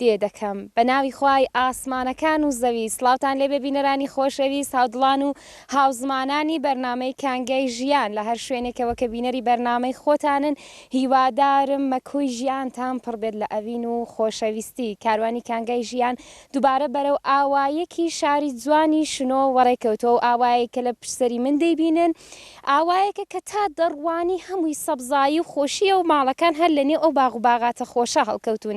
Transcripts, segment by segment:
دێ دەکەم بە ناوی خوای ئاسمانەکان و زەوی سڵاوتان لێ بێ بینەرانی خۆشەویست هاودڵان و هاوزمانانی بەرنامەی کانگای ژیان لە هەر شوێنێکەوە کە بینەری بەرنامەی خۆتانن هیوادارم مەکۆی ژیانتان پڕ بێت لە ئەوین و خۆشەویستی کاروانی کانگای ژیان دوبارە بەرەو ئاوایەکی شاری جوانی شنۆ وەڕێ کەوتوە و ئاوایەک کە لە پشت سەری من دەیبینن ئاوایەکە کە تا دەڕوانی هەمووی سەبزایی و خۆشیە و ماڵەکان هەر لە نێو ئەو باغ و باغاتە خۆشە هەڵکەوتون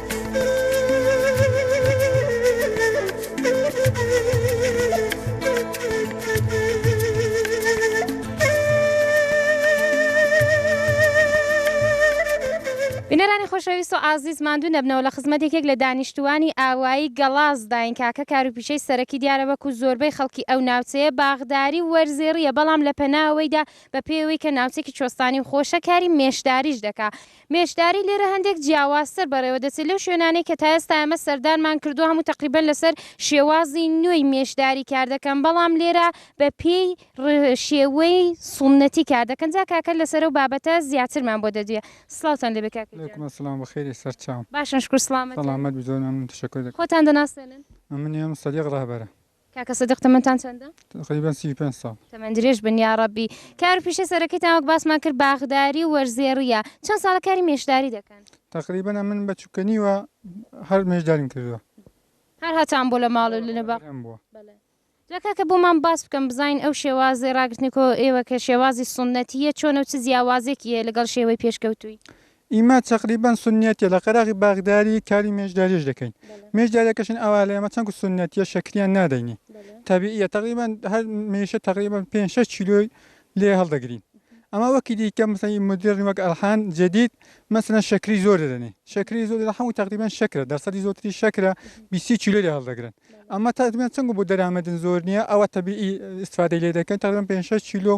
بینەرانی خۆشەویست و ئازیز ماندوو نەبنەوە لە خزمەت یەکێک لە دانیشتووانی ئاوایی گەڵازداین کاکە کاروپیشەی سەرەکی دیارەبەک و زۆربەی خەڵکی ئەو ناوچەیە باغداری و وەرزێڕیە بەڵام لە پەناوەیدا بە پێی ئەوەی کە ناوچەکی چۆستانی و خۆشە کاری مێشداریش دەکا بێشداری لێرە هەندێک جیاوازتر بەڕێوەدەچێت لەو شوێنانەی کە تا ئێستا ئێمە سەردانمان کردووە، هەموو تەقریبەن لەسەر شێوازی نوێی مێشداری کاردەکەن، بەڵام لێرە بەپێی شێوەی سوننەتی کاردەکەن، جا کاکە لەسەر ئەو بابەتە زیاترمان بۆ دەدوێ. سڵاوتان لێبێ کاکە گیان. علیکم السلام بەخێری سەرچاو. باشم شکور سڵامەتن. سەڵامەت بی زۆر مەمنون تەشەکور دەکەم. خۆتان دەناسێنن. ئەمن یم سەدیق ڕەهبەرە. کاکە سدیق تەمەنتان چەندە؟ تقریبا سی و پێنج ساڵ. تەمەن درێژ بن یاڕەبی. کار و پیشە سەرەکیتان وەک باسمان کرد باخداری و وەرزێڕییە. چەند ساڵە کاری مێشداری دەکەن؟ تقریبا ئەمن بە چوکەنیوە هەر مێشداریم کردووە. هەر هەتان بۆ لە ماڵ و لە باخ؟ بەڵێ. جا کاکە بۆمان باس بکەن بزانین ئەو شێوازی ڕاگرتنی کۆ ئێوە کە شێوازی سوننەتییە چۆنە و چ جیاوازێکی هەیە لەگەڵ شێوەی پێشکەوتووی؟ ئیمە تەقریبەن سوننەتیە لە قەراغی باغداری کاری مێشداریش دەکەین مێشدارەکەشن ئەوا لە ئێمە چەند کو سوننەتیە شەکریان نادەینی تەبیعیە تەقریبەن هەر مێشە تەقریبەن پێنج شەش کیلۆی لێ هەڵدەگرین ئەما وەکی دیکە مثلا مدرن وەک ئەلحان جدید مثلا شەکری زۆر دەدەنێ شەکری زۆر دەدەن هەموو تەقریبەن شەکرە دەرسەدی زۆرتری شەکرە بیست کیلۆ لێ هەڵدەگرن ئەمە تەقریبەن چونکە بۆ دەرامەتن زۆر نییە ئەوە تەبیعی ئیسفادەی لێ دەکەن تەقریبەن پێنج شەش کیلۆ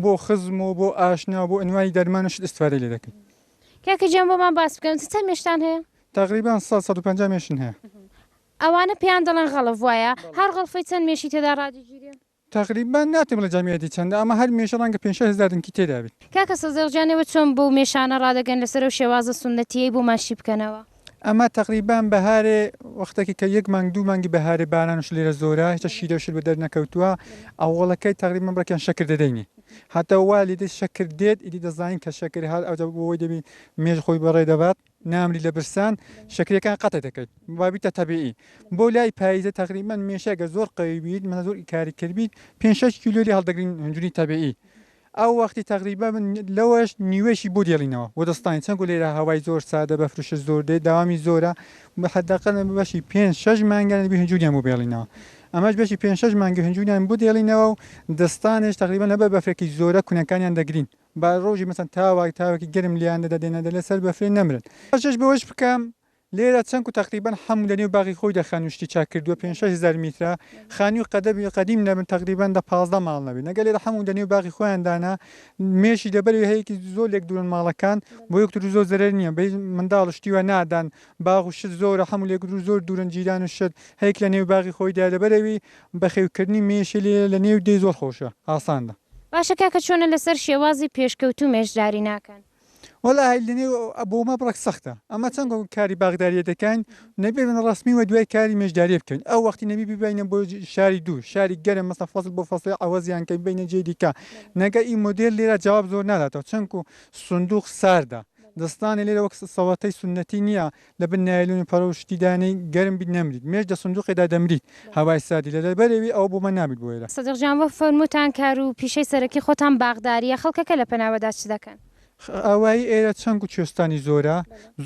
بۆ خزم و بۆ ئاشنا و بۆ ئەنوای دەرمان و شت ئیسفادەی لێ دەکەین کاکە گیان بۆمان باس بکەن چ چەند مێشتان هەیە؟ تەقریبەن سەد سەد و پەنجا مێشن هەیە. ئەوانە پێیان دەڵێن غەڵف وایە؟ هەر غەڵفەی چەند مێشی تێدا ڕادەگیرێ؟ تەقریبەن ناتوانم بڵێم جەمیەتی چەندە ئەمە هەر مێشە ڕەنگە پێنج شەش هەزار دنکی تێدا بێت. کاکە سەزێغ گیان ئێوە چۆن بەو مێشانە ڕادەگەن لەسەر ئەو شێوازە سونەتیەی بۆمان شی بکەنەوە. ئەمە تەقریبەن بەهارێ وەختەکی کە یەک مانگ دوو مانگی بەهارێ بارانش لێرە زۆرە هیچە شیرەو شت بەدەر نەکەوتووە ئەوەڵەکەی تەقریبەن بڕەکیان شەکر دەدەینی هەتا وا لێدێ شەکر دێت ئیدی دەزانین کە شەکر هات ئەوجە بۆ وەی دەبی مێش خۆی بەڕێ دەبات. نامری لە برسان شەکرەکان قەتە دەکەیت وابیتە تەبیعی بۆ لای پاییزە تەقریبان مێشەگە زۆر قەوی بیت من زۆر کاری کرد بیت 5 کیلو لێ هەڵدەگرین هەنجوری تەبیعی ئەو وەختی تەقریبا من لەوەش نیوەشی بۆ دێڵینەوە بۆ دەستانی چەند لێرە هەوای زۆر سادە بە فرشە زۆر دێت داوامی زۆرە حداقل بەشی پێ شش مانگان بی هەنجوریان بۆ بێڵینەوە ئەمەش بەشی پێ شش مانگی هەنجوریان بۆ دێڵینەوە و دەستانش تەقریبا لەبەر بەفرێکی زۆرە کونەکانیان دەگرین با ڕۆژی مەسەن تاوەک تاوەکی گەرم لێیان دەدا دێنە دەرێ سەر بەفرێ نەمرن. ئاماژەش بەوەش بکەم لێرە چەنک و تەقریبەن حەموو لەنێو باغی خۆی دە خانووی شتی چاک کردووە پێنج شەش هەزار میترە خانووی قەدەبی قەدیم نەبن تەقریبەن دە پازدە ماڵ نەبێ نەگەر لێرە حەموو دەنێو باغی خۆیان دانا مێشی لەبەرەوی هەیەکی زۆر لێک دوورن ماڵەکان بۆ یەکترو زۆر زەرەر نییە بەهیچ منداڵ و شتی وا نادان باغ و شت زۆرە حەموو لێکدروو زۆر دوورن جیران و شت هەیەک لەنێو باغی خۆیدایە لەبەرەوی بەخێوکردنی مێشی لێرە لەنێو دێ زۆر خۆشە ئاساندە. باشە کاکە چۆنە لەسەر شێوازی پێشکەوتوو مێشداری ناکەن؟ وەڵا هەی لەنێو بۆمە بڕەک سەختە ئەمە چەند گۆ کاری باغداریە دەکاین نەبێ بن ڕەسمی وە دوای کاری مێژداریە بکەین ئەو وەختی نەبی ببینە بۆ شاری دوو شاری گەرم مەسە فەسڵ بۆ فەسڵی عەوەزیان کە بینە جێ دیکە نەگە ئی مۆدێل لێرە جواب زۆر ناداتەوە چەنکو سندوق ساردە دەستانێ لێرە وەک سەوەتەی سونەتی نیە لە بن نایلۆن و پەڕۆ و شتی دانێی گەرم بیت نەمریت مێش دە سندوقێ دا دەمریت هەوای ساردی لە دەربەرێوی ئەوە بۆمە نابیت بۆ ئێرە. سەدیق جان وەک فەرمووتان کار و پیشەی سەرەکی خۆتان باخداریە خەڵکەکە لە پەناوەدا چ دەکەن؟ ئاوایی ئێرە چەنگ و کوێستانی زۆرە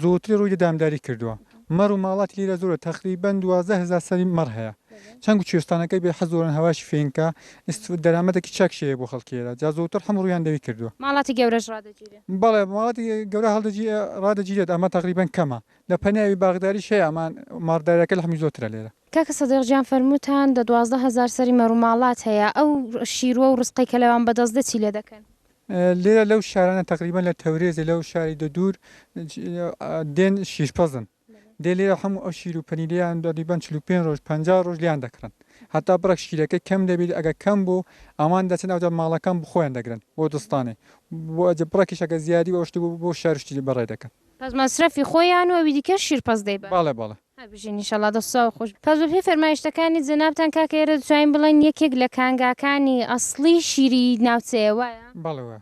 زۆرتری ڕووی لە دامداری کردووە مەڕ و ماڵاتی لێرە زۆرە تەقریبەن دوازدە هەزار سەری مەڕ هەیە چەنگ و کوێستانەکەی بێ حەز زۆرن هەواشی فێنکە ئیست دەرامەتێکی چاکشی هەیە بۆ خەڵکی ئێرە جا زۆرتر حەم ڕوویان لەوی کردووە. ماڵاتی گەورەش ڕادەگیرێ. بەڵێ ماڵاتی گەورە هەڵدەگی ڕادەگیرێت ئەمە تەقریبەن کەمە لە پەنیاوی باغداریش هەیە ئەمان ماڕدارەکە لەحمی زۆترە لێرە. کاکە سەدیق گیان فەرمووتان دە دوازدە هەزار سەری مەرو ماڵات هەیە ئەو شیروە و رزقەی کە لەوان بەدەست دێت چی لێ دەکەن؟ لێرە لەو شارانە تەقریبەن لە تەورێزێ لەو شاری دە دوور دێن شیرپەزن. دەی لێرە حەموو ئەو شیر و پەنیرەیان دەریبەن چل و پێنج ڕۆژ پەنجا ڕۆژ لێیان دەکڕن هەتا بڕێک شیرەکەی کەم دەبیت ئەگەر کەم بوو ئەوان دەچن ئەوجا ماڵەکان بخۆیان دەگرن بۆ دڵستانێ بۆ ئەجە بڕەکیش ئەگەر زیادی و ئەوشتە بوو بۆ شار شتی بەڕێ دەکەن. پس مەسرەفی خۆیان و ئەوی دیکەش شیر پەس دەیبەن. بەڵێ بەڵێ. هەر بژین ان شاءاللە دەست و چاو خۆش بێت پس بەپێی فەرمایشتەکانی جەنابتان کاکە ئێرە دەتوانین بڵێین یەکێک لە کانگاکانی ئەسڵی شیری ناوچەیە وایە؟ بەڵێ وایە.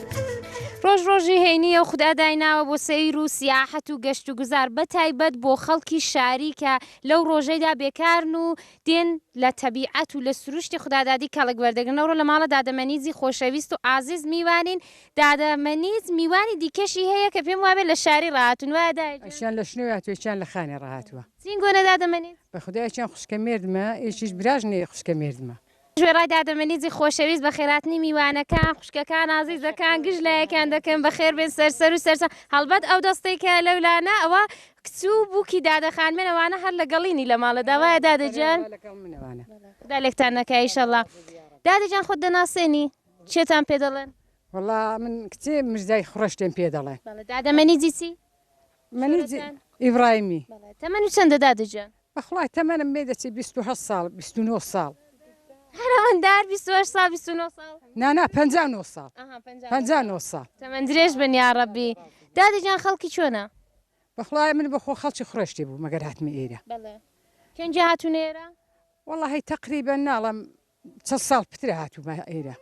ڕۆژ ڕۆژی هەینییە و خودا دایناوە بۆ سەیر و سیاحەت و گەشت و گوزار بە تایبەت بۆ خەڵکی شاری کە لەو ڕۆژەیدا بێکارن و دێن لە تەبیعەت و لە سروشتی خودادادی کەڵک وەردەگرن ئەوڕۆ لە ماڵە دادە مەنیزی خۆشەویست و ئازیز میوانین دادە مەنیز میوانی دیکەشی هەیە کە پێم وابێ لە شاری ڕاهاتوون وایە دایە گیان؟ ئەشیان لە شنۆی هاتووە یەکیان لە خانێ ڕاهاتووە. زینگۆنە دادە مەنیز. بەخودا یەکیان خوشکە مێردمە یەکیش براژنێ خوشکە مێردمە. وێڕای دادەمەنیی خۆشەویست بە خێراتنی میوانەکان، خوشکەکان، ئازیزەکان گشت لایەکیان دەکەن، بەخێربێن سەر سەر و سەرسام. هەڵبەت ئەو دەستەی کە لەولانە، ئەوە کچ و بووکی دادە خانمێن، ئەوانە هەر لەگەڵینی لە ماڵێدا، وایە دادە گیان؟ خودا لێکتان نەکا ئیشەڵڵا. دادە گیان خۆت دەناسێنی؟ کێتان پێ دەڵێن؟ وەڵڵا من کچێ مژدای خڕشتێم پێ دەڵێن. دادەمەنیی چی؟ شۆرەتان؟ ئیبڕایمی. تەمەنت چەندە دادە گیان؟ بەخوای تەمەنم بێ دەچێ بیست و هەشت ساڵ بیست و نۆ ساڵ. هەرەمەندار بیست و هەشت ساڵ بیست و نۆ ساڵ. نا نا پەنجا و نۆ ساڵ ئەها پەنجا پەنجا و نۆ ساڵ. تەمەن درێژ بن یاڕەبی. دادە گیان خەڵکی چۆنە؟ بەخوای من بەخۆ خەڵکی خڕێشتێ بووم ئەگەر هاتمە ئێرە. بەڵێ. کەنجی هاتوونە ئێرە؟ وەڵاهی تەقریبەن ناڵێم چەند ساڵ پترە هاتوومە ئێرە.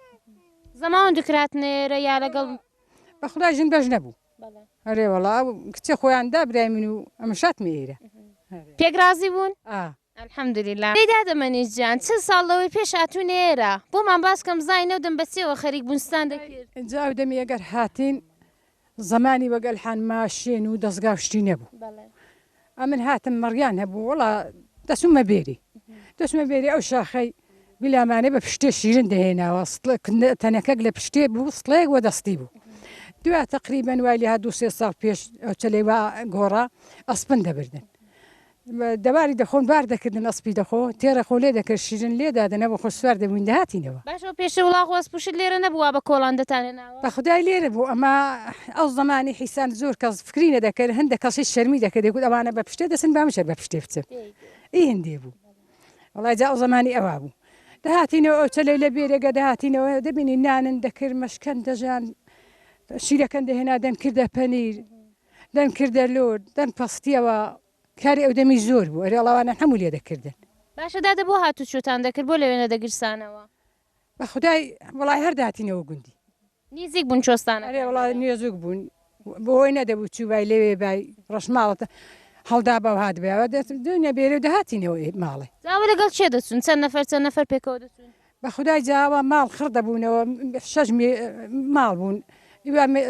زەماوەند دکراتنە ئێرە یا لەگەڵ بەخدا ژن بەش نەبوو ئەرێ وەڵا کچێ خۆیان دا برای من و ئەمە شاتمە ئێرە پێگرازی بوون ئەحمدلیلا دەیدا دەمەنی جیان چ ساڵ لەوەی پێش هاتوو نێرە بۆمان باسکەم زای نەودەم بەچێەوە خەریک بونستان دەکرد جاو دەمی ئەگەر هاتین زەمانی وەک ئەلحان ماشێن و دەزگا و شتی نەبوو بەڵێ ئەمن هاتم مەڕیان هەبوو وەڵا دەسومە بێری دەسمە بێری ئەو شاخەی بیلامانێ بە پشتێ شیرن دەهێناوە تەنەکەک لە پشتێ بوو سڵەیەک وە دەستی بوو دوا تقریبن وای لێ دوو سێ ساڵ پێش چلەی وا گۆڕا ئەسپن دەبردن دەباری دەخۆن بار دەکردن ئەسپی دەخۆ تێرە خۆ لێ دەکرد شیرن لێ دادە نەبوو خۆ سوار دەبووین دەهاتینەوە. باش ئەو پێشە وڵاخ و ئەسپ و شت لێرە نەبوو وا بە کۆڵان دەتانهێناوە؟ بە خودای لێرە بوو ئەمە ئەو زەمانی حیسان زۆر کەس فکری نە دەکرد هەندە کەسیش شەرمی دەکرد دەگوت ئەوانە بە پشتێ دەچن با منیش هەر بە پشتێ بچم ئی هندێ بوو وەڵای جا ئەو زەمانی ئەوا بوو دەهاتینەوە ئەو چەلەی لە بێرێگە دەهاتینەوە دەبینی نانن دەکرد مەشکەن دەژان شیرەکەن دەهێنا دەنکردە پەنیر دەن کردە لور دەن پەستیەوە کاری ئەو دەمی زۆر بوو ئەرێ ڵاوانە هەموو لێ دەکردن. باشە دادە بۆ هاتو چۆتان دەکرد بۆ لەوێ نەدەگرسانەوە. بە خودای وەڵای هەر داتینەوە گوندی. نیزیک بوون چۆستانەکان. ئەرێ وەڵا نیزوک بوون بۆ هۆی نەدەبوو چوبای لەوێ بای ڕەش ماڵت هەڵدابا و هاتبایەوە دەت دوو نەبێرێ و دەهاتینەوە ئێ ماڵێ. جا ئەوە لەگەڵ کێ دەچوون چەند نەفەر چەند نەفەر پێکەوە دەچوون. بەخودای جا ئەوە ماڵ خڕ دەبوونەوە شەش ماڵ بوون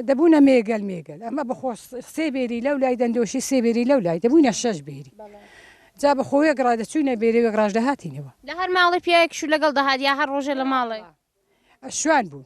دەبوونە مێگەل مێگەل ئەمە بەخۆ سێ بێری لەو لای دەندۆشی سێ بێری لەو لای دەبوونە شەش بێری جا بەخۆیە گڕا دەچوونە بێرەوێک ڕژدە هاتینەوە لە هەر ماڵی پیاوێکش و لەگەڵ دەهات یا هەر ڕۆژێ لە ماڵێ ئەشوان بوون.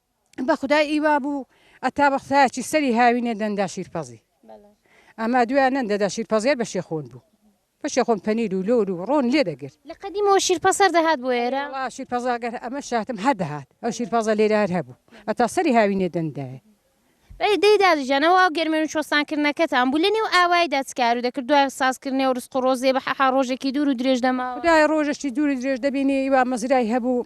بە خودای ئی وا بوو ئەتا بە قسایەچی سەری هاوینێ دەندا شیرپەزی ئەما دویا نەن دەدا شیرپەزێر بە شێخۆن بوو بە شێخۆن پەنیر و لۆر و ڕۆن لێ دەگرت لە قەدیمەوە شیرپەز هەر دەهات بۆ ئێرە؟ وەڵا شیرپەزا گەر ئەمە شاتم هەر دەهات ئەو شیرپەزە لێرە هەر هەبوو ئەتا سەری هاوینێ دەندایە. ئەی دەی دادە گیان ئەو ئاو گەرمێن و چۆستان کردنەکەتان بوو لە نێو ئاوایدا چ کارو دەکرد دوای ساز کردنێ و ڕزق و ڕۆزێ بە حەحا ڕۆژێکی دوور و درێژ دەماوە؟ خودایە ڕۆژەکی دوور و درێژ دەبینی ئی وا مەزرای هەبوو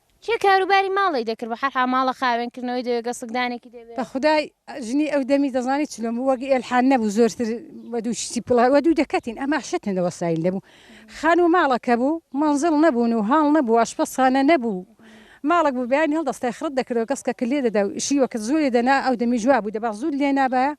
کێ کاروباری ماڵی دەکرد بە حەرحا ماڵە خاوێن کردنەوەی دەوێ گەسک دانێکی دەوێ. بە خودای ژنی ئەو دەمی دەزانی چلۆن بوو وەک ئێلحان نەبوو زۆرتر وە دوو شتی پڵە وە دوو دەکەتین ئەما شتن لە وەسایل دەبوو خان و ماڵە کە بوو مەنزڵ نەبوون و هاڵ نەبوو ئاشپەز خانە نەبوو ماڵەک بوو بەیانی هەڵدەستای خڕت دەکردەوە گەسکەکت لێ دەدا و شیوەکت زوو لێ دەنا ئەو دەمیش وا بوو دەبا زووت لێ نابایە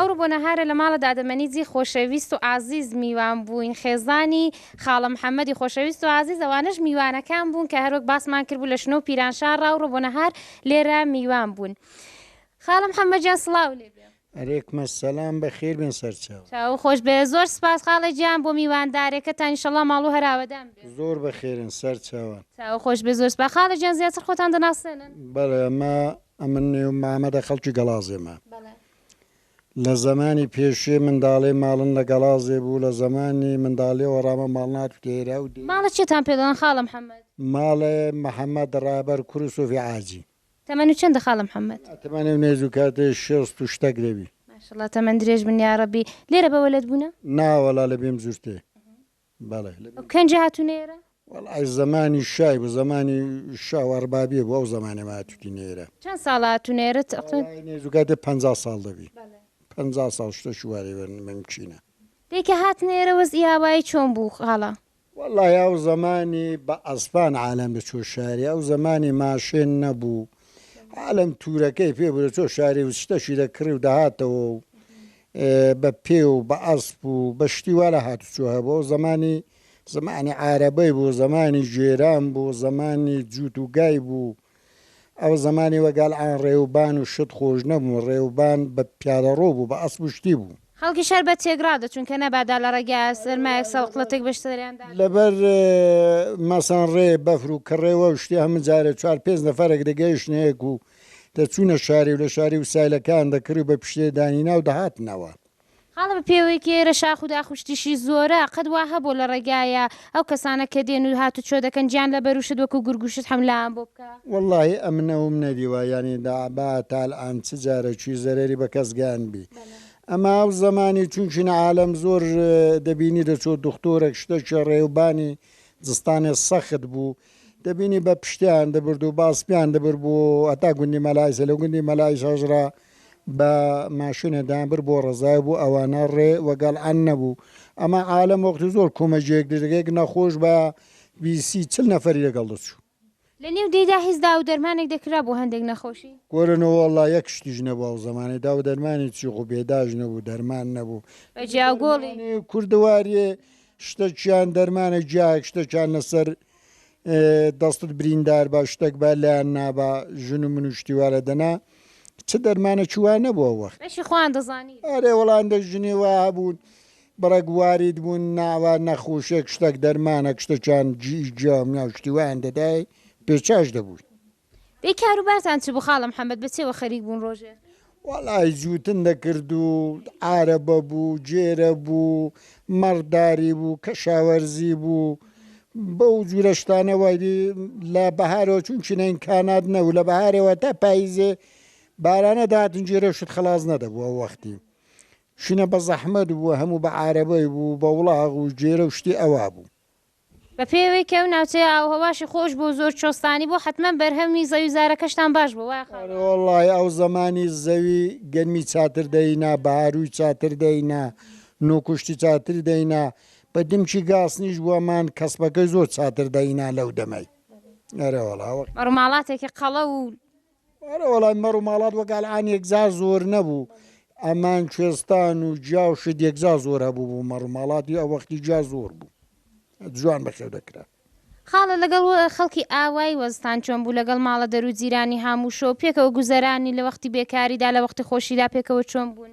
ئەوڕۆ بۆ نەهارە لە ماڵە دادەمەنیجی خۆشەویست و ئازیز میوان بووین خێزانی خاڵە محەمەدی خۆشەویست و ئازیز ئەوانەش میوانەکان بوون کە هەروەک باسمان کردبوو لە شنۆ پیرانشار ڕاوڕۆ بۆ نەهار لێرە میوان بوون خاڵم حەمەجان سڵاو لێ علیکم السلام بەخێر بێن سەرچاو. چاوو خۆش بێ زۆر سپاس خاڵە گیان بۆ میواندارێکەتان انشاللە ماڵو هەر ئاوەدان بێ. زۆر بەخێرن سەرچاوان. چاوو خۆش بێ زۆر سپاس خاڵە گیان زیاتر خۆتان دەناسێنن. بەڵێ ئەمە ئەمن نێو مامەدە خەڵکی گەڵازێمە بەڵێ. لە زەمانی پێشوێ منداڵێ ماڵن لە گەڵازێ بوو لە زەمانی منداڵێوە ڕامە ماڵن هاتووتە ئێرە و دێ. ماڵە کێتان پێ دەڵێن خاڵە محمد. ماڵە محمد ڕابەر کوری سۆفی عاجین. تەمەنت چەندە خاڵە محمد. تەمەنی و نێژ و کاتی شێست و شتەک دەبی. ماشااللە تەمەن درێژ بن یاڕەبی. لێرە بە وەلەد بوونە؟ نا وەڵا لە بیم زورتێ بەڵێ. ئەو کەنجە هاتوونە ئێرە؟ وەڵا زەمانی شای بوو زەمانی شا و ئەڕبابیە بوو ئەو زەمانێ مە هاتووتینە ئێرە. چەند ساڵە هاتوونە ئێرە تەقریبەن؟ وەڵا نێژ و کاتی پەنجا ساڵ دەبی. پەنجا ساڵ شتەکی وا لێ ممکینە. دەی کە هاتنە ئێرە وەزئی ئاوایی چۆن بوو خاڵە؟ وەڵاهی ئەو زەمانی بە ئەسپان عالەم دەچووە شاری ئەو زەمانی ماشێن نەبوو عالەم تورەکەی پێ بوو دەچووە شاری و شتەکی دەکڕی و دەهاتەوە و بە پێ و بە ئەسپ و بە شتی وا لە هاتوچۆ هەبوو ئەو زەمانی زەمانی عارەبەی بوو زەمانی ژێران بوو زەمانی جووت و گای بوو ئەو زەمانی وە گال عان ڕێ و بان و شت خۆش نەبوون ڕێ و بان بە پیادە ڕۆ بوو بە ئەسپ و شتی بوو. خەڵکی شار بە تێگڕا دە چوون کە نەبادا لە ڕێگە سەرمایەک سەڵقڵەتێک بە شتەریان دا. لە بەر مەسەن ڕێ بەفر و کڕێ وە و شتی هەمن جارێ چوار پێنج نەفەرێک دە گەیشتنە یەک و دە چوونە شاری و لە شاری و سایلە کان دە کڕی و بە پیشێ دانی نا و دە هاتنەوە. خاڵە بە پێوەی کێرە شاخ و داخ و شتیشی زۆرە قەت وا هەبووە لە ڕێگایە ئەو کەسانە کە دێن و هات و چۆ دەکەن گیان لە بەروشت وەکو گورگ و شت حەملەیان بۆ بکا. وەڵاهی ئەمنە وم نەدیوە یانی دە با تال عان چ جارە چوی زەرەری بە کەس گەیان بی ئەما ئەو زەمانی چونچین عالەم زۆر دەبینی دەچۆ دوختورەک شتە چێ ڕێوبانی زستانێ سەخت بوو دەبینی بە پشتیان دەبرد و بە ئەسپیان دەبرد بۆ هەتا گوندی مەلایسە لە گوندی مەلایش هەژرا بە ماشینە دامبر بۆ ڕزای بوو ئەوانە ڕێ وەگەڵ ئەن نەبوو ئەمە عالم وەختی زۆر کومەجێک دژەکەیەک نەخۆش بە بیسی چل نەفەری لەگەڵ دەچوو لە نێو دێیدا هیچ داو دەرمانێک دەکرا بۆ هەندێک نەخۆشی؟ گۆرنەوە وەڵڵا یەک شتیش نەبوو ئەو زەمانەی داو دەرمانی چی خۆ بێداش نەبوو دەرمان نەبوو بە جیا گۆڵی کوردەواریێ شتەکیان دەرمانە جیایەک شتەکیان لەسەر دەستت بریندار بە شتێک بە لایەن نابا ژن و من و شتیوارە دەنا چ دەرمانە چوە نەبووە وەخت ئەشی خۆیان دەزانی ئەرێ وەڵان دە ژنی وا هەبوون بڕێک وارید بوون ناوە نەخوشێک شتێک دەرمانە شتەکیان جی جیام ناو شتیوان دەدای پێچاش دەبووی ئێ کاروبارتان چ بوو خاڵە محەمەد بە چێوە خەریک بوون ڕۆژێ؟ وەڵای جووتن دەکرد و عارەبە بوو گێرە بوو مەڕداری بوو کەشاوەرزی بوو بەو جوورە شتانە وای بی لە بەهارەوە چوون چینە ئینکانات نەوو لە بەهارەوە تا پاییزێ بارانە داتن گێرە شت خەڵاز نەدەبوو ئەو وەختی شینە بە زەحمەت بوو هەموو بە عارەبەی بوو بە وڵاغ و گێرە و شتی ئەوا بوو بە پێی ئەوەی کە ئەو ناوچەیە ئاو و هەواشی خۆش بوو و زۆر چۆستانی بوو حەتمەن بەرهەمی زەویوزارەکەشتان باش بوو وایە خاڵۆ؟ ئەرێوەڵڵاهی ئەو زەمانی زەوی گەرمی چاتر دەینا بەهارووی چاتر دەینا نوکوشتی چاتر دەینا بە دمکی گاسنیش بوەمان کەسپەکەی زۆر چاتر دەینا لەو دەمەی ئەرێوەڵا وەختی. مەڕوماڵاتێکی قەڵەو و ئەرێ وەڵای مەڕ و ماڵات وەک ئەلعان یەکجار زۆر نەبوو ئەمان کوێستان و جیا و شت یەکجار زۆر هەبوو بوو مەڕ و ماڵاتی ئەو وەختی جیا زۆر بوو جوان بەخێو دەکرا. خاڵە لەگەڵ خەڵکی ئاوای وەزتان چۆن بوو لەگەڵ ماڵە دەرو جیرانی هاموو شەو پێکەوە گوزەرانی لە وەختی بێکاریدا لە وەختی خۆشیدا پێکەوە چۆن بوون؟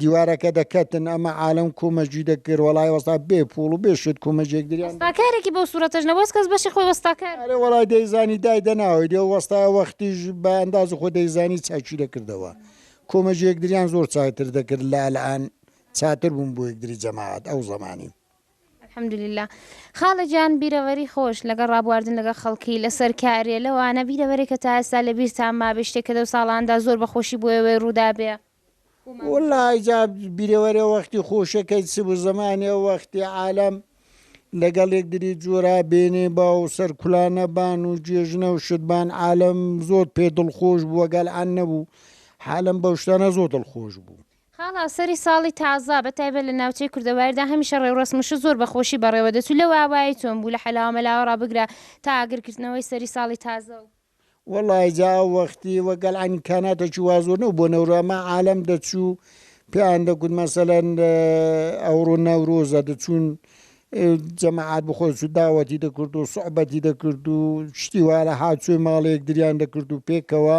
دیوارەکە دەکەتن ئەمە عالەم کومە جوی دەکرد وەڵای وەستا بێ پوڵ و بێ شت کومە جێک دریان دەکرد. وەستاکارێکی بەو سورەتەش نەبوو ئەز کەس بەشی خۆی وەستاکار بوو. ئەرێ وەڵای دەیزانی دای دەناوەی دێ و وەستایە وەختیش بە ئەندازی خۆ دەیزانی چاکی دەکردەوە کومە جێک دریان زۆر چاکتر دەکرد لە ئەلئان چاتر بوون بۆ یەکدری جەماعەت ئەو زەمانی. الحمدللە خاڵە گیان بیرەوەری خۆش لەگەڵ ڕابواردن لەگەڵ خەڵکی لەسەر کارێ لەوانە بیرەوەرێک کە تا ئێستا لە بیرتان مابێ شتێک کە لەو ساڵانەدا زۆر بە خۆشی بۆ ئێوەی ڕوودابێ و ماندوو وەڵا بووبێ. جا بیرەوەرێ وەختی خۆشەکەی چ بوو زەمانێ وەختی عالەم لەگەڵ یەکدری جورا بێنێ با و سەرکولانە بان و جێژنە و شت بان عالەم زۆر پێ دڵخۆش بوو وەگەل عەن نەبوو حالەم بەو شتانە زۆر دڵخۆش بوو. خاڵە سەری ساڵی تازە بە تایبەت لە ناوچەی کوردەواردا هەمیشە ڕێوڕەسم و شت زۆر بە خۆشی بەڕێوە دەچوو لەو ئاوایی چۆن بوو لە حەلاوە مەلاوەڕا بگرە تا ئاگر کردنەوەی سەری ساڵی تازە و. وەڵای جا ئەو وەختی وە گەل ئەمکاناتەکی وا زۆر نەبوو بۆ نەورۆ ئەما عالەم دەچوو پێیان دەگوت مەسەلەن ئەوڕۆ نەورۆزە دەچوون جەماعات بە خۆی چوو داوەتی دەکرد و سوعبەتی دەکرد و شتی وا لە هاتووی ماڵێک دریان دەکرد و پێکەوە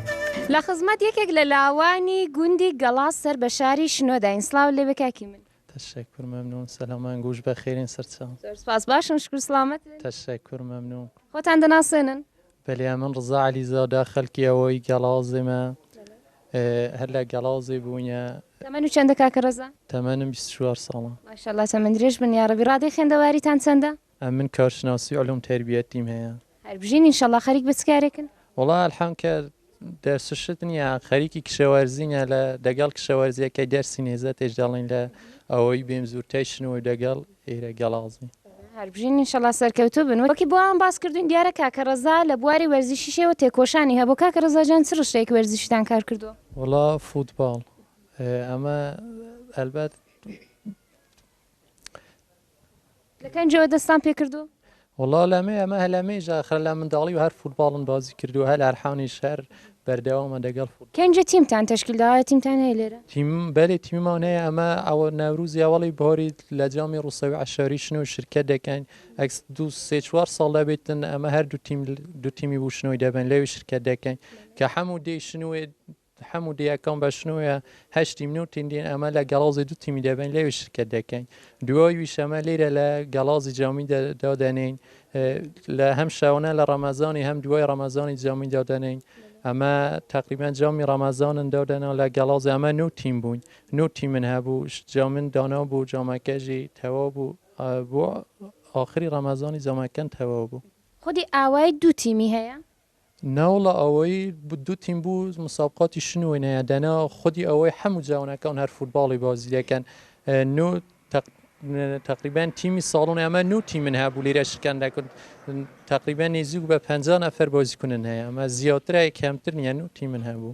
لە خزمەت یەکێک لە لاوانی گوندی گەڵاس سەر بە شاری شنۆداین سڵاوت لێبێ کاکی من. تەشەکور مەمنون سەلامان گووش بەخێرین سەرچاو. زۆر سوپاس باشم شکور سڵامەتن. تەشەکور مەمنون. خۆتان دەناسێنن؟ بەلێ ئەمن ڕزا عەلی زادە خەلکی ئەوەی گەڵازمە هەر لە گەڵازێ بوینە. تەمەنو چەندە کاکە ڕەزا؟ تەمەنم بیست و چوار ساڵە. ماشاءاللە تەمەن درێژ بن یاڕەبی. ڕادەی خێندەواریتان چەندە؟ ئەمن کارشناسی علوم تربیتیم هەیە. هەربژین انشاللە خەریک بە چ کارێکن؟ وەڵا الحم کە دەرس و شت نیە خەریکی کشەوەرزینە لە دەگەڵ کشەوەرزیە کەی دەرسی نێزە تێش دەڵین لە ئەوەی بێم زورتای شنو و دەگەڵ ئێرە گەڵازین. هەربژین انشاللە سەرکەوتوو بن وەکی بۆ ئەوان باس کردوین دیارە کاکە ڕەزا لە بواری وەرزشیشەوە تێکۆشانی هەبوو کاکە ڕەزا جان چ ڕشتەیەکی وەرزشیتان کار کردووە؟ وەڵا فوتباڵ ئەمە ئەلبەت لە کەنجەوە دەستان پێ کردووە؟ وەڵا لەمێ ئەمە هەلەمێژە ئەخر لە منداڵی هەر فوتباڵم بازی کردووە هەر ئەرحانیش هەر بەردەوامە دەگەڵ فوتباڵ. کەنجە تیمتان تەشکیل داوە تیمتان هەیە لێرە؟ تیم بەلێ تیممان هەیە ئەمە ئەوە نەوروزی ئەوەڵی بهۆری لە جامی ڕوسەوی عەشاری شنۆی شرکەت دەکەین ئەکس دوو سێ چوار ساڵ دەبێتن ئەمە هەر دوو تیم دوو تیمی بوو شنۆی دەبن لەوی شرکەت دەکەین کە حەموو دێی شنوێ حەموو دیاکۆم بە شنووێ هەشت تیم نوو تیم دین ئەمە لە گەڵۆزی دوو تیمی دەبەین لەوێ شرکەت دەکەین دووەی ویش ئەمە لیرە لە گەڵازی جامی دادەنین لە هەم شەونە لە ڕەمەزانی هەم دوای ڕەمەزانی جامی دادەنین ئەمە تقریبان جامی ڕەمەزانن دادەنا لە گەڵازی ئەمە نوو تیم بووین نوو تیمن هەبوو جامن دانا بوو جامەکەژی تەوا بوو بۆ آخری ڕەمەزانی جامەکەن تەوا بوو خودی ئاوای دوو تیمی هەیە؟ ناوەڵا ئەوەی دوو تیم بوو مسابقاتی شن و نەیە دەنا خودی ئەوەی هەموو جاونەکەون هەر فوتباڵی بازیەکەن نو تقریبان تیمی ساڵون ئەمە نو تیمن هەبوو لێرە شکان دەکرد تقریبان نێزیک بە پ نەفر بازیکونن هەیە ئەمە زیاترای کەمتر نیە نو تیمن هەبوو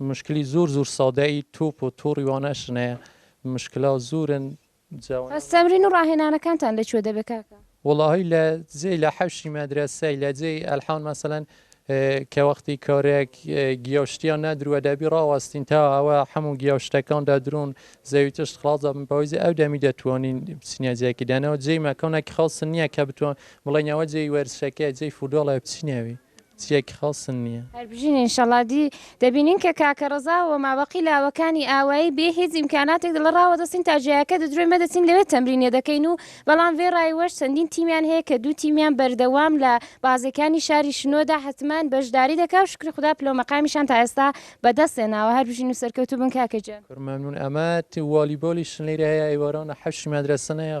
مشکلی زور زور سادە ئی توپ و توڕی وانەش نەیە مشکلا زورن جا وەنە. بەس تەمرین و ڕاهێنانەکانتان لە کوێ دەبێ کاکە؟ وەڵاهی لە جێی لە حەوشی مەدرەسەی لە جێی ئەلحان مەسەلەن کە وەختی کارێک گیا و شتیان نەدروە دەبی ڕاوەستین تا ئەوە حەموو گیا و شتەکان دەدرون زەوی تشت خڵاس دەبن بەهۆی ئەو دەمی دەتوانین بچینە جێکی دەنەوە جێی مەکانەکی خاس نییە کە بتوان بڵێین ئەوە جێی وەرزشەکەیە جێی فوداڵە بچینەوی چیەکی خەڵسن نیە. هەربژین انشاللە دی دەبینین کە کاکە ڕەزا و مابەقی لاوەکانی ئاوایی بێ هیچ ئیمکاناتێک دەڵێ ڕاوەدەستین تا جێیاکە دەدرۆین مەدەچین لەوێ تەمرینێ دەکەین و بەڵام ڤێ ڕایوەش چەندین تیمیان هەیە کە دوو تیمیان بەردەوام لە بازێکانی شاری شنۆدا حەتمان بەشداری دەکا و شوکری خودا پلەو مەقامیشان تا ئێستا بەدەست هێناوە هەربژین و سەرکەوتوو بن کاکە گیان. کور مەمنون ئەمە تی والیبۆلی شنلیرە هەیە ئەی وەرەونە حەوشی مەدرەسە نەیە.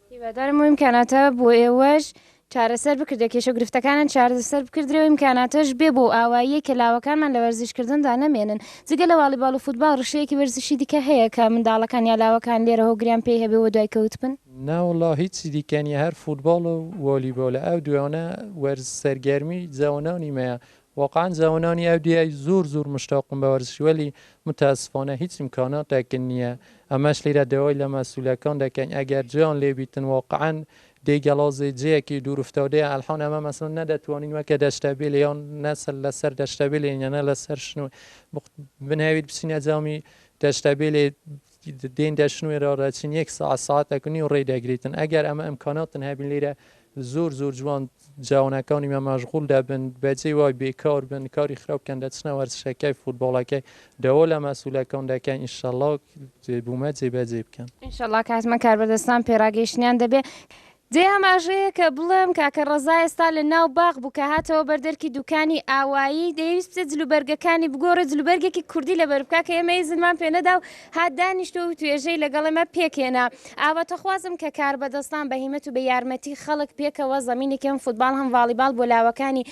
هیوادارم ئەو ئیمکاناتە بۆ ئێوەش چارەسەر بکردرێ کێشە و گرفتەکانیان چارەسەر بکردرێ و ئیمکاناتەش بێ بۆ ئەو ئاواییەی کە لاوەکانمان لە وەرزشکردندا نەمێنن جگە لە واڵیباڵ و فوتباڵ ڕشەیەکی وەرزشی دیکە هەیە کە منداڵەکان یا لاوەکان لێرە هۆگریان پێی هەبێ و دوای کەوت بن؟ نەوەڵا هیچی دیکە نیە هەر فوتباڵ و والیبالە ئەو دوانە وەرز سەرگەرمی جەوەنانی مەیە واقعەن جوانانی ئەو دیای زور زور مشتاقم بە وەرزشی وەلی متاسفانە هیچ امکاناتەکن نیە ئەمەش لیرە داوای لە مەسولەکان دەکەین ئەگەر جێیان لێ بیتن واقعەن دێی گەڵازێ جێیەکی دور افتادەیە ئەلحان ئەمە مەسەلەن نەدەتوانین وەکە دەشتەبێل یان نە سەر لە سەر دەشتەبێلێ یە نە لە سەر شنۆ بنەویت بچینە جامی دەشتەبێلێ دێن دەشنوێرە ڕەچین یەک سەعات سەعاتەک نیو ڕێ دەگریتن ئەگەر ئەمە ئەمکاناتن هەبین لێرە زۆر زۆر جوان جوانەکانی مە مەشغول دەبن بەجێ وای بێکار بن کاری خراپ بکەن دەچنە وەرزشەکەی فوتباڵەکەی داوا لە مەسولەکان دەکەین ئینشەڵا بوومە جێبەجێ بکەن. ئینشەڵا کاتمە کاربەدەستان پێڕاگەیشتنیان دەبێ. جێی ئاماژەیە کە بڵێم کاکە ڕەزا ئێستا لە ناو باخ بوو کە هاتەوە بەر دەرکی دووکانی ئاوایی، دەیەویست بچێت جلوبەرگەکانی بگۆڕێت، جلوبەرگێکی کوردی لەبەر بکات کە ئێمە ئیزنمان پێ نەدا و هات دانیشتو و توێژەی لەگەڵ ئێمە پێک هێنا. ئاواتەخوازم کە کاربەدەستان بە هیمەت و بە یارمەتی خەڵک پێکەوە زەمینێکی هەم فوتباڵ هەم ڤاڵیباڵ بۆ لاوەکانی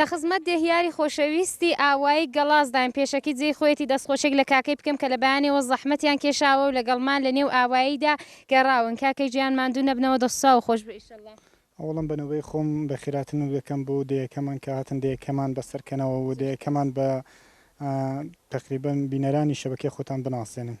لە خزمەت دێهیاری خۆشەویستی ئاوایی گەڵاسداین، پێشەکی جێی خۆیەتی دەستخۆشیەک لە کاکەی بکەم کە لە بەیانیەوە زەحمەتیان کێشاوە و لەگەڵمان لە نێو ئاواییدا گەڕاون، کاکەی جیان ماندوو نەبنەوە دەستوساغ و خۆشبێ ئیشەڵا. ئەوەڵەم بە نۆبەی خۆم بە خیراتر نوکدەکەم بۆ دێیەکەمان کە هاتن دێیەکەمان بە سەر کەنەوە و دێیەکەمان بە تەقریبەن بینەرانی شەبەکەی خۆتان بناسێنن.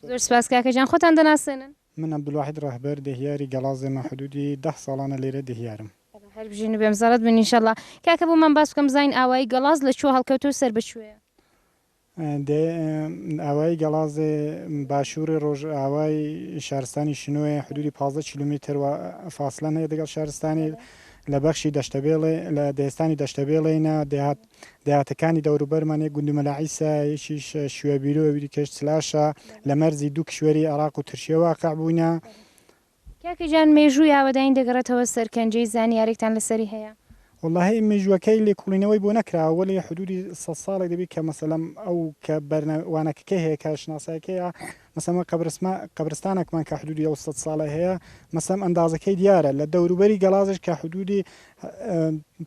زۆر سوپاس کاکە گیان، خۆتان دەناسێنن. من عبدالواحد ڕەهبەر دێهیاری گەڵازێمە حدودی دە ساڵانە لێرە دێهیارم. هەر بژین و بێمزەڵت بن انشاللە. کاکە بۆمان باس بکە مزاین ئاوایی گەڵاز لە کوێ هەڵکەوتە و سەر بە کوێیە؟ دێ ئاوایی گەڵازێ باشوورێ ڕۆژئاوای شارستانی شنۆیە، حدوودی پازدە کیلۆمیتر وە فاسلەن هەیە دەگەڵ شارستانی لە بەخشی دەشتەبێڵێ لە دێستانی دەشتەبێڵێینا، دێهات دێهاتەکانی دەوروبەرمان یەک گوندی مەلا عیسا یەکیش شوێبیرو ئەویدیکەیش چلاشە، لە مەرزی دوو کیشوەری عێراق و ترکیە واقع بووینە. کاکە گیان مێژووی ئاوەدانی دەگەڕێتەوە سەرکەنجەی زانیارێکتان لەسەری هەیە؟ وەڵاهی مێژووەکەی لێکوڵینەوەی بۆ نەکراوە وەلی حدودی سەد ساڵێک دەبی کە مەسەلەم ئەو کە بەرنە وانەکەکەی هەیە کە شناسایەکەیە مەسەم وە قەبرسما قەبرستانەکمان کە حدودی ئەو سەد ساڵە هەیە مەسەم ئەندازەکەی دیارە لە دەوروبەری گەڵازش کە حدودی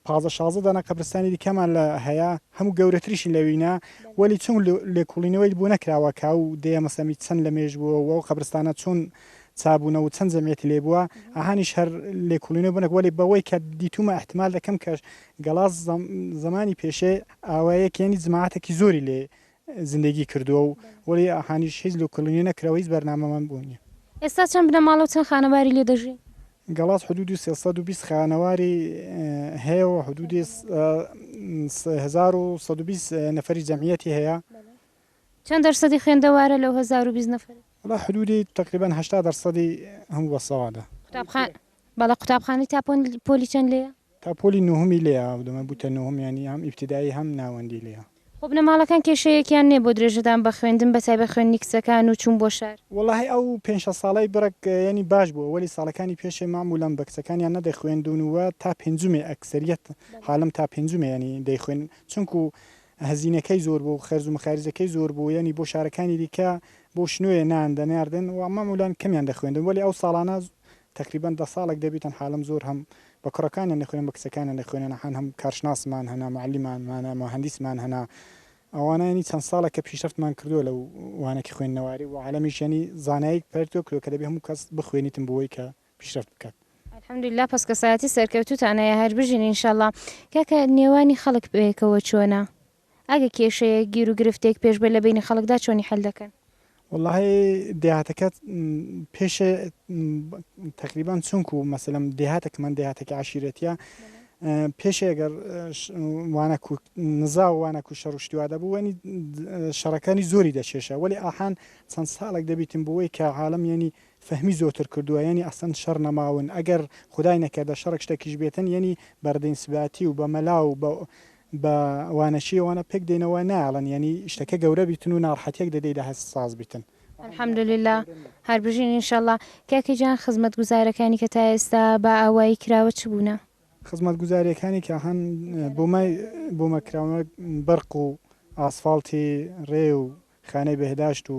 پازدە شازدە دانە قەبرستانی دیکەمان لە هەیە هەموو گەورەتریشی لەوینە وەلی چون لێکوڵینەوەی بۆ نەکراوە کاو دەیە مەسەمی چەند لە مێژ بووە وە قەبرستانە چون چابونەوە چەند جەمیەتی لێ بوە ئەهانیش هەر لێکوڵینەوە بنەک وەلی بەوەی کە دیتومە ئەحتمال دەکەم کەش گەڵاس زەمانی پێشێ ئاوایەک یانی جماعەتەکی زۆری لێ زندگی کردووە و وەلی ئەهانیش هیچ لێکوڵینەوە نەکراوە هیچ بەرنامەمان بۆ نیە. ئێستا چەند بنەماڵە و چەند خانەواری لێ دەژی؟ گەڵاس حدودی سێ سەد و بیست خانەواری هەیە و حدودی سێ هەزار و سەد و بیست نەفەری جەمیەتی هەیە. چەند دەرسەدی خوێندەوارە لەو هەزار و بیست نەفەرە؟ وەڵا حدودی تەقریبەن هەشتا دەرسەدی هەموو بەسەوادە. قوتابخانە بەڵێ قوتابخانەی تا پۆلی چەند لێیە؟ تا پۆلی نۆهەمی لێیە ئاو دەمە بوتە نۆهەم یانی هەم ئیبتدایی هەم ناوەندی لێیە. خۆ بنەماڵەکان کێشەیەکیان نیە بۆ درێژەدان بە خوێندن بە تایبەت خوێندنی کچەکان و چوون بۆ شار؟ وەڵاهی ئەو پێنج شەش ساڵەی بڕێک یانی باش بووە وەلی ساڵەکانی پێشێ مەعمولەن بە کچەکانیان نەدەخوێندوون و تا پێنجمێ ئەکسەریەت حالم تا پێنجمێ یانی دەیخوێن چونکوو هەزینەکەی زۆر بوو خەرج و مەخاریجەکەی زۆر بوو یانی بۆ شارەکانی دیکە بۆ شنۆیە نان دەناردن و مەعمولان کەمیان دەخوێندن وەلی ئەو ساڵانە تەقریبەن دە ساڵێک دەبی تەنها لەم زۆر هەم بە کوڕەکانیان دەخوێنن بە کچەکانیان دەخوێنن هان هەم کارشناسمان هەنا معلمان مانە موهەندیسمان هەنا ئەوانە یانی چەند ساڵە کە پیشرەفتمان کردووە لەو وانەکی خوێندنەواری و عالەمیش یانی زانایک پەرتۆ کرۆ کە دەبی هەموو کەس بخوێنیتن بۆی کە پیشرەفت بکات. الحمدللە پەس کەسایەتی سەرکەوتوتان هەیە هەر بژین ان شاءاللە. کاکە نێوانی خەڵک بەیەکەوە چۆنە؟ ئەگە کێشەیەک گیرو گرفتێک پێش بێت لە بەینی خەڵکدا چۆنی حەل دەکەن؟ وەڵاهی دێهاتەکە پێشێ تەقریبان چونکو مەسەلەم دێهاتەکەمان دێهاتەکە عشیرەتە پێشێگەر وانە نزا و وانە و شەڕ شتیوا دەبوو وەنی شەڕەکانی زۆری دەچێشە وەلی ئاحان چەند ساڵێک دەبیتم بۆی کە عاالم یعنی فەهمی زۆتر کردوە یەنی ئەسلەن شەڕ نەماون ئەگەر خودای نەکەردە شەڕێک شتەکیش بێتن یەنی بە ردین سباتی و بە مەلا و بە بە وانەشی وانە پێک دێنەوە نایەڵن یەنی شتەکە گەورە بیتن و ناڕحەتیەک دەدەی دە هەست ساز بیتن. الحمد للە هەر بژین ان شاءاللە. کاکە گیان خزمەت گوزارەکانی کە تا ئێستا بە ئاوایی کراوە چ بوونە؟ خزمەت گوزاریەکانی کە هەن بۆمە بۆمە کراونە بەرق و ئاسفاڵتی رێ و خانەی بەهداشت و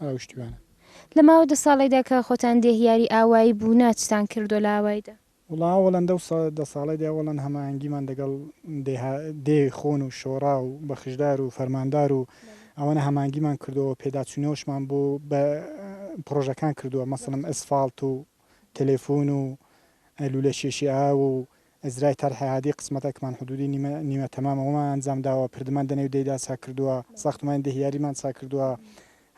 ئاوشتوانە. لە ماوەی دە ساڵەیدا کە خۆتان دێهیاری ئاوایی بوونە چتان کردووە لە ئاواییدا؟ وەڵا ئەوەڵەن دە دە ساڵەیدا ئەوەڵەن هەماهەنگیمان دەگەڵ دێها دێی خۆن و شۆڕا و بەخشدار و فەرماندار و ئەوەنە هەمانگیمان کردووە پێداچوونەوەشمان بۆ بە پڕۆژەکان کردووە مەسەڵەن ئەسفاڵت و تەلەفون و لوولە کێشی ئاو و ئەزرای تەرحە هادی قسمەتە کمان حدودی نیمە نیمە تەمامە وەمان ئەنجام داوە پردمان دە نێو دەیدا چاک کردووە ساختمانی دە هیاریمان چاک کردووە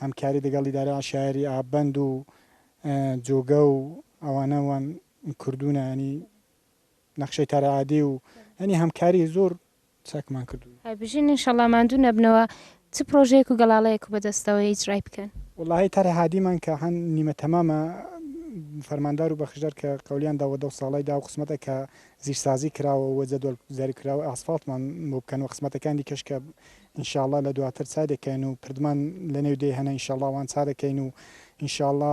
هەمکاری دەگەڵ ئیدارەی عەشایەری ئاب بەند و جۆگە و ئەوانە وان کردوونە یانی نەخشەی تەرعادی و یانی هەمکاری زۆر چاکمان کردووی. هەر بژین انشاللە ماندوو نەبنەوە چ پرۆژەیەک و گەڵاڵەیەک و بەدەستەوەیە ئیجرای بکەن. وەڵاهی تەرح هادیمان کە هەن نیمە تەمامە فەرماندار و بەخشدار کە قەولیان داوە دەو ساڵەی داو قسمەتە کە زیر سازی کراوە و جەدوەل زر کراوە ئاسفاڵتمان بۆ بکەن و قسمەتەکان دیکەش کە انشاللە لە دواتر چای دەکەین و پردمان لە نێو دێ هەنە انشاللە ئەوان چا دەکەین و انشاللە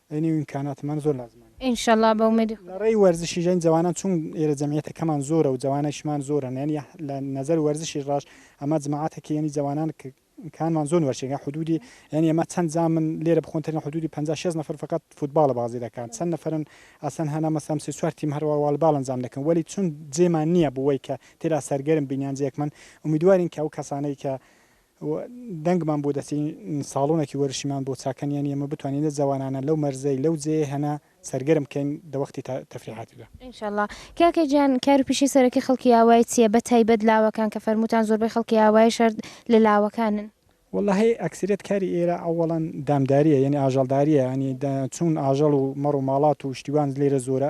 ئەی نێو ئیمکانات من زۆر لازمانە. ان شاءاللە بە ئومێدی خودا. لە ڕێی وەرزشیش یانی جوانان چون ئێرە جەمیەتە کەمان زۆرە و جوانانیشمان زۆرن یانی لە نەزەر وەرزشیش ڕاش ئەما جماعەتە کە یانی جوانان ک کانمان زۆن وەرشێن یان حدودی یانی ئەما چەن جامن لێرە بخۆن تەرین حدودی پەنجا شێست نەفەر فەقەت فوتباڵە بازی دەکان چەن نەفەرن ئەسلەن هەنا مەسەم سێ چوار تیم هەر وا والباڵ ئەنجام دەکەن وەلی چون جێمان نیە بوەی کە تێدا سەرگەرم بین یان جێکمن ئومیدوارین کە ئەو کەسانەی کە و دەنگمان بۆ دەچێین، ساڵۆنەکی وەرشیمان بۆ چاکەن، یانی ئێمە بتوانین لە جەوانانە لەو مەرزەی لەو جێیە هەنە سەرگەرم کەین دە وەختی تەفریحاتیدا. ان شاء اللە. کاکە گیان کارو پیشەی سەرەکی خەڵکی ئاوای چیە بە تایبەت لاوەکان کە فەرمووتان زۆربەی خەڵکی ئاوای شار لە لاوەکانن؟ وەللە هی ئەکسریەت کاری ئێرە ئەوەڵەن دامداریە یانی ئاژەڵداریە یانی چوون ئاژەڵ و مەڕ و ماڵات و شتیوان لێرە زۆرە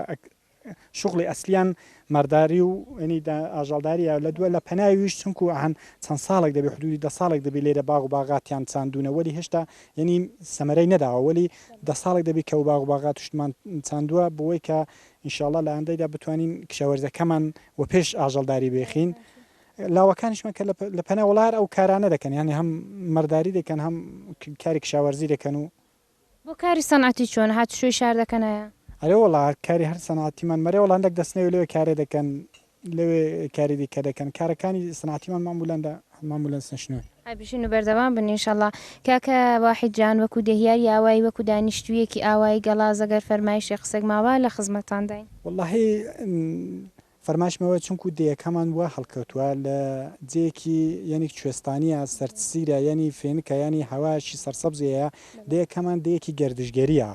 شوغڵی ئەسلیان مارداری و ینی دە ئاژەڵداریە لە دووە لە پەناویش چونکوو ئەهەن چەند ساڵێک دەبێ حدوودی دە ساڵێک دەبی لێرە باغ و باغاتیان چاندوونە وەلی هێشتا ینی سەمەرەی نەداوە وەلی دە ساڵێک دەبی کە و باغ و باغات توشتمان چاندووە بووەی کە ان شاء اللە لە ئایندەیدا بتوانین کشاوەرزەکەمان وە پێش ئاژەڵداری بێخین لاوەکانیشمان کە لە پەنا وەڵا هەر ئەو کارانە دەکەن یانی هەم مەرداری دەکەن هەم کاری کشاوەرزی دەکەن و بۆ کاری سەنعەتی چۆنە هات شوی شار دەکەنایە. ئەرێ وەڵا کاری هەر سەنعەتیمان مەرێ وەڵا هەندەک دەسنەوێ لەوێ کارێ دەکەن لەوێ کاری دیکە دەکەن کارەکانی سەنعەتیمان ماموولان دا ماموولان سنشنون. هەر بژین و بەردەوام بن ان شاءاللە. کاکە واحید جان وەکو دێهیاری ئاوایی وەکو دانیشتوویەکی ئاوایی گەڵاز ئەگەر فەرمایشێک قسێک ماوا لە خزمەتتانداین. وەڵاهی فەرمایشمەوە چونکوو دەیەکەمان وا هەڵکەوتووە لە جێیەکی یانی کوێستانییە سەرتسیرە یانی فێنکە یانی هەوایەکی سەرسەبزی هەیە دەیەکەمان دەیەکی گەردشگەرییە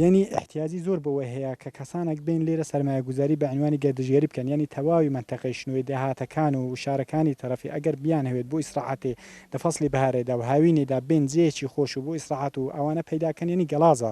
یانی ئیحتیاجی زۆر بەوە هەیە کە کەسانەک بێن لێرە سەرمایەگوزاری بە عینوانی گەردشگەری بکەن یانی تەواوی مەنتەقەی شنۆی دێهاتەکان و شارەکانی تەرەفی ئەگەر بیانهەوێت بۆ ئیسراحەتێ لە فەسڵی بەهارێدا و هاوینێدا بێن جێیەکی خۆش و بۆ ئیسراحەت و ئەوانە پەیدا کەن یانی گەڵازە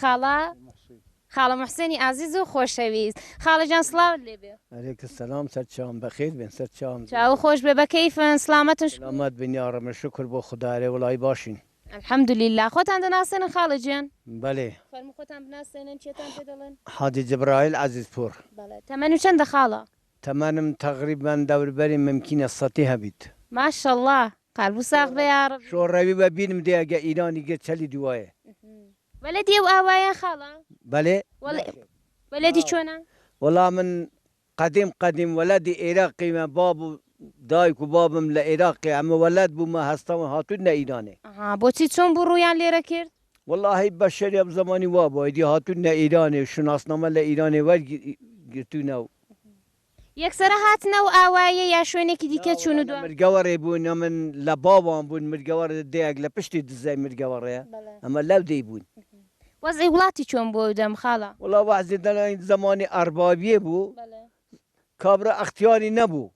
خاڵە خاڵە موحسێنی ئازیز و خۆشەویست خاڵە جان سڵاوت لێ بێ. علیک سلام سەر چاوم بەخیر بێن سەر چاوم. چاوو خۆش بێ بە کەیفن سڵامەتن شکور. سڵامەت بن یا رب شکور بۆ خودا ئەرێ وڵای باشین. الحمد للە خۆتان دەناسێنن خاڵە جیان. بەلی. فەرموو خۆتان بناسێنن چێتان پێ دەڵێن. حاجی جبرائیل عەزیز پوور. بەڵێ تەمەنو چەندە خاڵە. تەمەنم تەغریبەن دەوربەری ممکینە سەتی هەبیت. ماشەڵا قەلبو ساغ بئ یاڕەب. شۆڕەوی وە بینم دێ ئەگە ئیرانی گرت چەلی دوایە. بەلەدی ئەو ئاوایە خاڵە؟ بەلێ ناخێر. بەلەدی چۆنە؟ وەڵا من قەدیم قەدیم وەلەدی ئێراقیمە باب و دایک و بابم لە ئێراقی ئەمە وەلەد بوومە هەستاون هاتوونە ئیرانێ. ئەها بۆچی چۆن بوو ڕوویان لێرە کرد؟ وەڵاهی بە شەری ئەم زەمانی وابوو ئەیدی هاتوونە ئیرانێ و شوناسنامە لە ئیرانێ وەرگرتوونە و یەکسەرە هاتنە ئەو ئاوایە یا شوێنێکی دیکە چوون و دوام. مرگەوەڕێ بوون ئەمن لە باوان بوون مرگەوەڕ دێیەک لە پشتی دزەی مرگەوەڕێە ئەمە لەو دێی بوون. وەزعی وڵاتی چۆن بوو ئەو دەم خاڵە؟ وەڵا وەزعی دەڵێن زەمانی ئەڕبابیێ بوو کابرا ئەختیاری نەبوو.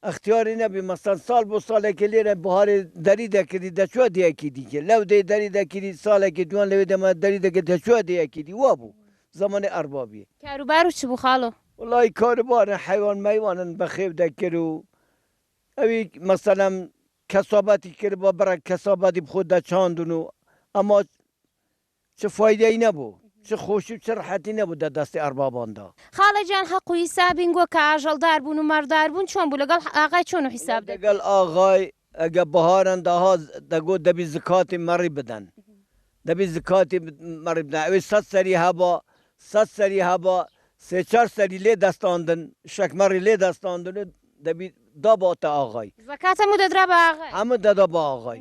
ئختیاری نەبی مەسەن ساڵ بۆ ساڵێکی لێرە بەهاری دەری دەکردی دەچوە دێیەکی دیکێ لەو دێی دەری دەکیری ساڵێکی دوان لەوێ دەما دەری دەکرد دەچوە دێیەکی دی وا بوو زەمەنی ئەڕبابی. کارو بارو چ بوو خاڵۆ؟ وەڵایی کارو بارن حەیوان مەیوانن بە خێو دەکرد و ئەوی مەسەلەم کەسابەتی کردبا بڕێک کەسابەتی بخۆ دەچاندن و ئەما چ فایدەی نەبوو چ خۆشی و چ ڕەحەتی نەبوو دە دەستی ئەڕبابان دا. خاڵە جان حەق و حیساب هینگۆ کە ئاژەڵ دار بوون و مەڕ دار بوون چۆن بوو لەگەڵ ئاغای چۆن و حیساب دەکرد. لەگەڵ ئاغای ئەگە بەهاران داها دەگۆت دەبی زکاتی مەڕی بدەن دەبی زکاتی مەڕی بدەن ئەوێ سەد سەری هەبا سەد سەری هەبا سێ چار سەری لێ دەستاندن شەک مەڕی لێ دەستاندن و دەبی داباتە ئاغای. زکات هەموو دەدرا بە ئاغای. هەموو دەدا بە ئاغای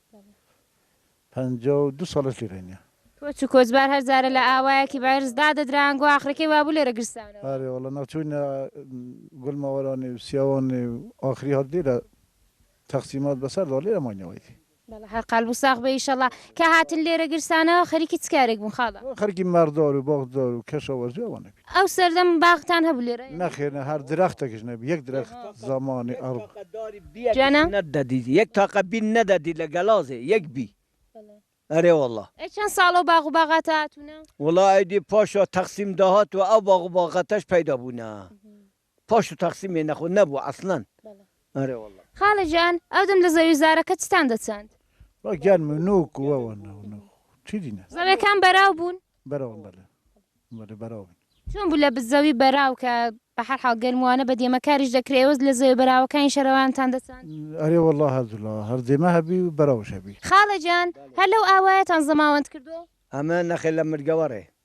پەنجا و دوو ساڵە لێرەین یە. کۆچ و کۆچبار هەر جارە لە ئاوایەکی بەعرس دادەدران گو ئاخرەکەی وابوو لێرە گرسانەوە. ئارێ وەڵا نەچووینە گوڵ مەوەرانی و سیاوانی و ئاخری هات لێرە تەقسیمات بەسەر دا لێرە ماینەوە ئیدی. بەڵا هەر قەلب و ساغ بێ ئیشەڵا. کە هاتن لێرە گرسانەوە خەریکی چ کارێک بوون خاڵە؟ خەریکی مەڕدار و باخدار و کەشاوەرزی ئەوانە بووین. ئەو سەردەم باغتان هەبوو لێرە؟ نەخێر نە هەر درەختەکش نەبی یەک درەخت زەمانی ئەڕ. جانا. نەدەدیت یەک تاقە بی نەدەدیت لە گەلازێ یەک بی ئەرێ وەڵا. ئەی چەن ساڵە و باغ و باغاتە هاتوونە؟ وەڵا ئەیدی پاشا تەقسیم داهات و ئەو باغ و باغاتەش پەیدا بوونە پاشو تاقسی مێ نەخۆ نەبوو عەسلەن ئەرێ وەڵا. خالە جان ئەو دەم لە زەوی زارەکە چتان دەچاند؟ وە گیان من نوک وە وە نە نە چی دی نە. زەویەکان بەراو بوون؟ بەراون بەلێ بەلێ بەراو بوون. چۆن بوو لە زەوی بەراو کە بە هەر حاڵ گەرم وانە بە دێمە کاریش دەکرێ ئێوەز لە زەوێ بەراوەکانی شەرەوانتان دەچاند؟ ئەرێ وەڵا هەر دوو لا هەر دێمە هەبی و بەراوش هەبی. خاڵە جان هەر لەو ئاوایەتان زەماوەند کردووە؟ ئەمە نەخێ لە مرگەوەڕێ.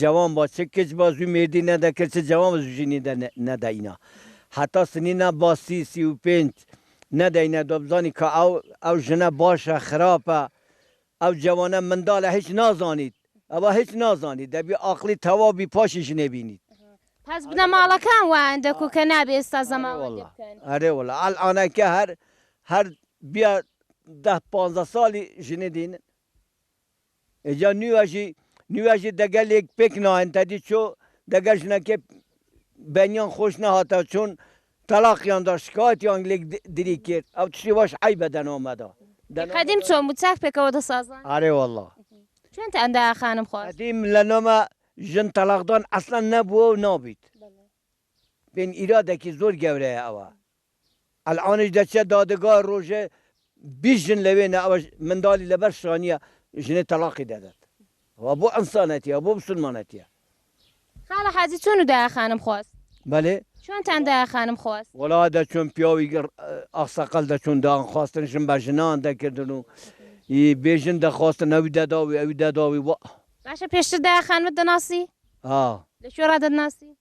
جوان با چ کچ با زوو مێردی نەدا کرد چ جوان با زوو ژنی دە نەدا ئینا هەتا سنی نا با سی سی و پێنج نەدا ئینا دا بزانی کە ئەو ئەو ژنە باشە خراپە ئەو جوانە مندالە هیچ نازانیت ئەوە هیچ نازانیت دەبی ئاقڵی تەواو بی پاشی ژنێ بینیت. پس بنەماڵەکان وایان دەکو کە نابێ ئێستا زەماوەندی بکەن. ئەرێ وەڵا ئەلئانەکە هەر هەر بیا دە پانزە ساڵی ژنێ دێنن ئێجا نیواژی نیواژی دەگەلێک پێک ناێن تەدی چۆ دەگە ژنەکێ بەنیان خۆش نەهاتە چۆن تەلاقیان دا شکاتیان لێک دری کرد ئەو تشی واش عی بە دەنامەدا قدیم چۆن بوو چاک پێکەوە دەسازان ئارێ واللە چۆن تان دا خانم خۆ قدیم لە نامە ژن تەلاقدان ئەسلەن نەبووە و نابیت بێن ئیرادەکی زۆر گەورەیە ئەوە. ئەلئانیش دەچیە دادگا رۆژێ بیست ژن لەوێنە ئەوەش مندالی لەبەر شانیە ژنێ تەلاقی دەدات ئەوە بۆ ئەنسانەتیە ئەوە بۆ مسولمانەتیە. خاڵە حاجی چۆن و دایە خانم خواست؟ بەلێ. چۆنتان دایە خانم خواست؟ وەڵا دەچوون پیاوی ئاقسەقەل دەچوون دان خواستن ژن بە ژنان دەکردن و ی بێ ژن دەخواستن ئەوی دەداوی ئەوی دەداوی وا. باشە پێشتر دایە خانمت دەناسی؟ ها. لە کوێ ڕا دەتناسی؟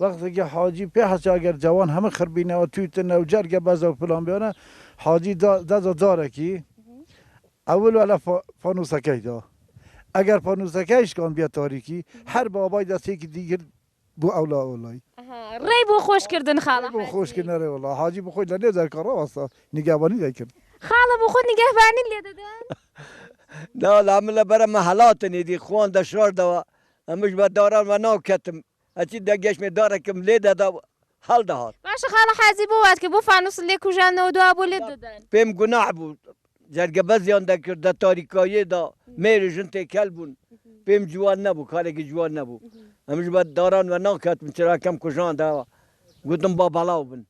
وەختێ کە حاجی پێ حەچ ئەگەر جەوان هەمە خڕ بینەوە تویتە نەو جەرگە بەزەو فلان بێنە حاجی دا دەدا دارەکی ئەول وە لە فانوسەکەی دا ئەگەر فانوسەکەی شکان بیە تاریکی هەر بابای دەسێکی دی گرت بۆ ئەو لا ئەو لای. ئەها ڕێی بۆ خۆش کردن خاڵە ڕێی بۆ حاجی. خۆش کردنە ڕێ وەڵا حاجی بۆ خۆی لە نێو جەرگا ڕاوەستا نیگەبانی دەی کرد. خاڵە بۆ خۆت نیگەهبانیت لێ دەدەن؟ نا وەڵا من لە بەرە مەهەڵاتن ئیدی خوان دەشاردەوە ئەمنش بە داران وەناو کەتم ئەچی دە گەشمێ دارێکم لێ دەدا و هەڵدەهات. باشە خاڵە حاجی بۆ وات کرد؟ بۆ فانووست لێ کوژاندنەوە دوا بۆ لێت دەدەن؟ پێم گوناح بوو، جەرگەبەزیان دەکرد، دە تاریکاییەدا مێر و ژن تێکەل بوون، پێم جوان نەبوو، کارێکی جوان نەبوو. ئەمنیش بە داران وەناکەتم، چراکەم کوژاندەوە، گوتم با بەڵاو بن.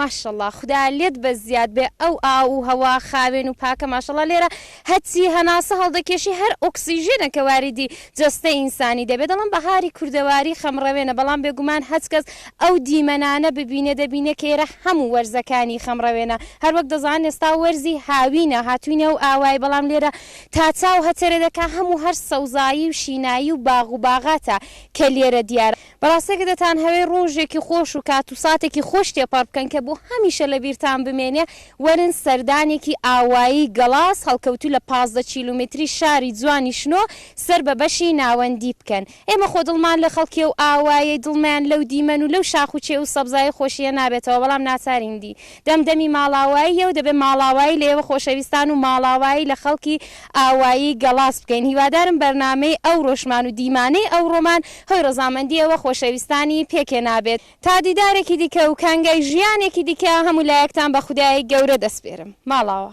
ماشەڵا خودا لێت بە زیاد بێ ئەو ئاو و هەوا خاوێن و پاکە ماشەڵا لێرە هەچی هەناسە هەڵدەکێشی هەر ئۆکسسیژێنە کە واریدی جەستە ئینسانی دەبێت دەڵم بەهاری کوردەواری خەمڕەوێنە بەڵام بێگومان هەچ کەس ئەو دیمەنانە ببینێ دەبینێ کێرە هەموو وەرزەکانی خەمڕەوێنە هەروەک دەزان ئێستا وەرزی هاوینە هاتوینە و ئاوای بەڵام لێرە تا چاو هەتەرێ دەکا هەموو هەر سەوزایی و شینایی و باغ و باغاتە کە لێرە دیارە بەڕاستی کە دەتانهەوێ ڕۆژێکی خۆش و کات و ساتێکی خۆش تێپەڕ بکەن کە بۆ هەمیشە لە بیرتان بمێنێ، وەرن سەردانێکی ئاوایی گەڵاس هەڵکەوتوو لە پازدە کیلومتری شاری جوانی شنۆ سەر بە بەشی ناوەندی بکەن. ئێمە خۆ دڵمان لە خەڵکی ئەو ئاوایەی دڵمیان لەو دیمەن و لەو شاخ و چێ و سەبزایەی خۆشییە نابێتەوە، بەڵام ناچارین دی. دەم دەمی ماڵاواییە و دەبێ ماڵاوایی لە ئێوە خۆشەویستان و ماڵاوایی لە خەڵکی ئاوایی گەڵاس بکەین. هیوادارم بەرنامەی ئەوڕۆشمان و دیمانەی ئەوڕۆمان هۆی ڕەزامەندی ئێوە خۆشەویستانی پێکێنا بێت. تا دیدارێکی دیکە و کانگای ژیانێکی دیکە هەموو لایەکتان بە خودای گەورە دەسپێرم. ماڵاوا.